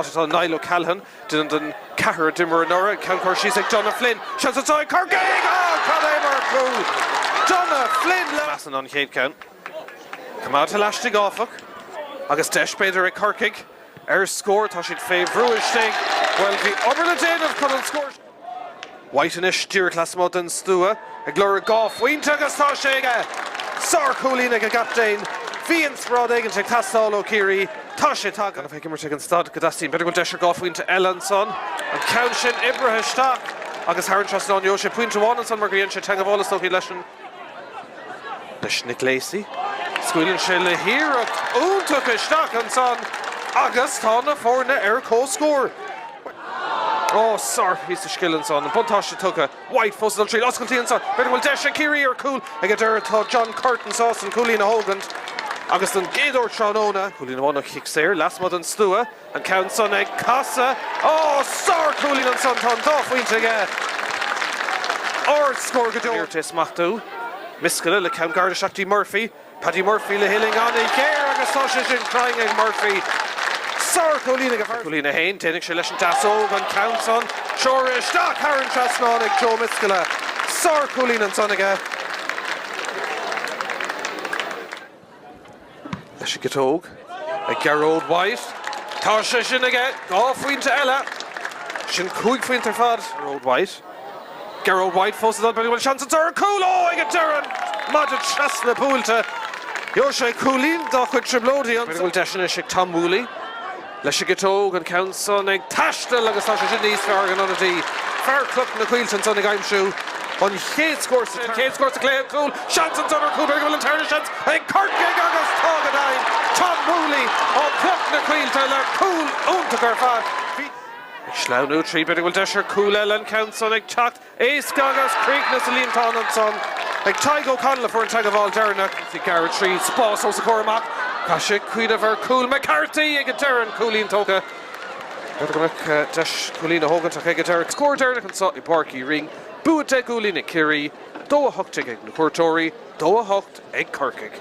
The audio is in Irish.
Tá Niall O'Callaghan, duine den gceathrar a d'imir anuraidh, ceann cur síos ag Donagh Flynn. Seans anseo ag Corcaigh! Ó, cad é mar chúl! Donagh Flynn leis an chéad cheann. Coimeádta lastigh, áfach. Agus deis, b'fhéidir, ag Corcaigh ar scór. Tá siad fé bhrú istigh. Bhuel, bhí obair le déanamh chun an scór. White anois díreach lasmuigh den stua ag lorg dhá phointe agus tá sé aige! Sár-chúilín ag an gcaptaen. Bhí inspioráid éigint ag teastáil ó Chiarraí. Tá sé tagtha. Bhí sé ag imirt ag an staid go dteastaíonn. B'fhéidir go bhfuil deis ar dhá phointe eile ansan. An ceann sin oibrithe isteach agus thar an trasnán. Gheobhaidh sé pointe amháin ansan mar gur dhein sé teangmháil is dócha leis an. leis Nick Lacey. Scaoileann sé le hiarracht iontach isteach ansan agus tá na foirne ar comhscór. Ó, sárphíosa scil ansan. An buntáiste tugtha. White fós ag dul tríd oscailt anso. B'fhéidir go bhfuil deis ag Ciarraí ar chúl ag an deireadh. Tá John Curtin sásta an cúilín a thógaint agus don gcéad uair tráthnóna. Cúilín amháin ó chic saor lasmuigh den stua. An ceann san ag casadh. Ó! Sár chúilín ansan. Tá an dá phointe aige. Ard scór go deo. Níor éirigh leis é a smachtú. Miscela le ceann gairid isteach dtí Murphy. Paddy Murphy le huillinn ana ghéar agus tá sé sin cruinn ag Murphy. Sár chúilín a haon. Déanfaidh sé leis an deasóg an ceann san. Ag dul isteach thar an trasnán ag Joe Miscela. Sár chúilín ansan aige. Leis an gciotóg ag Gearóid White. Tá sé sin aige. Dhá phointe eile. Sin cúig phointe ar fad. Gearóid White fós ag dul. B'fhéidir go bhfuil seans anso ar chúl. Ó! Ag an deireadh! Maide trasna buailte. Gheobhaidh sé cúilín dá chuid trioblóide. B'fhéidir go bhfuil deis anois ag Tom Whooley. Leis an gciotóg, an ceann san ag taisteal agus tá sé sin níos fearr ag an ionadaí, fear Chloich na Coillte ansan ag aimsiú an chéad scór sa an chéad scór sa cluiche, an cúl, seans ansan ar chúl, b'fhéidir go bhfuil an tarna seans ag Corcaigh agus tá go deimhin, Tom Whooley ó Chloich na Coillte le cúl iontach ar fad. Ag sleamhnú tríd b'fhéidir go bhfuil deis ar chúl eile, an ceann san ag teacht. Éasca agus críochnaithe sa líontán ansan. Ag Tadhg O'Connell a fuair an teagmháil deireanach. Ag gearradh trí spás os a chomhair amach. Chaith sé cuimhneamh ar chúl McCarthy ag an deireadh an cúilín tógtha. Deis cúilín a thógaint ach ag an deireadh. Scór deireanach anso i bPáirc Uí Rinn. Bua deich gcúilín ag Ciarraí, dó a hocht déag ag na cuairteoirí, dó a hocht ag Corcaigh.